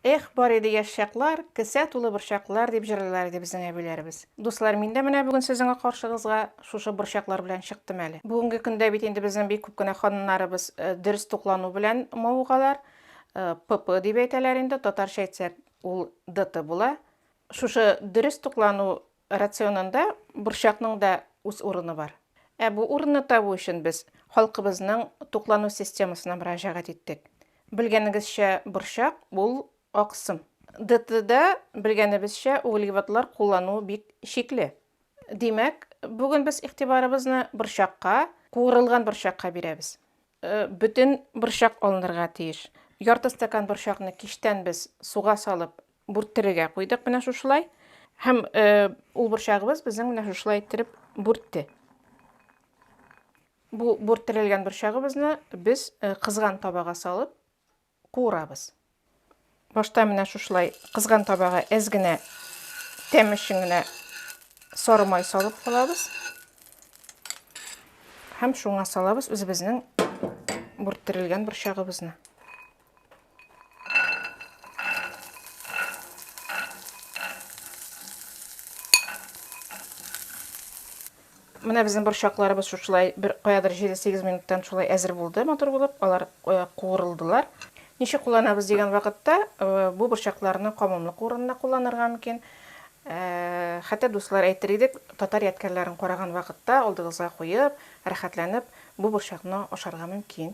Эх, бар иде яшь чаклар, Кесә тулы борчаклар, дип җырлыйлар иде безнең әбиләребез. Дуслар, мин дә менә бүген сезнең каршыгызга шушы борчаклар белән чыктым әле. Бүгенге көндә бит инде безнең бик күп кенә ханымнарыбыз дөрес туклану белән мавыгалар. ПП дип әйтәләр инде, татарча әйтсәк, ул ДТ була. Шушы дөрес туклану Рационында борчакның да үз урыны бар. Ә бу урынны табу өчен без халкыбызның туклану системасына мөрәҗәгать иттек. Белгәнегезчә, борчак, ул аксым. ДТда, белгәнебезчә, углеводлар куллану бик чикле. Димәк, бүген без игътибарыбызны борчакка, куырылган борчакка бирәбез. Бөтен борчак алынырга тиеш. Ярты стакан борчакны кичтән без суга салып бүрттерергә куйдык менә шушылай. Һәм ул борчагыбыз безнең менә шушылай иттереп бүртте. Бу бүрттерелгән борчагыбызны без кызган табага салып куырабыз. Башта менә шушылай кызган табага әз генә тәм өчен генә сары май салып калабыз. Һәм шуңа салабыз үзебезнең бүрттерелгән борчагыбызны. Менә безнең борчакларыбыз шушылай бер каядыр 7-8 минуттан шулай әзер булды матур булып, алар куырылдылар. Ничек кулланабыз дигән вакытта, бу борчакларны камымлык урынына кулланырга мөмкин. Хәтта дуслар әйтер идек, татар ядкәрләрен караган вакытта алдыгызга куеп, рәхәтләнеп бу борчакны ашарга мөмкин.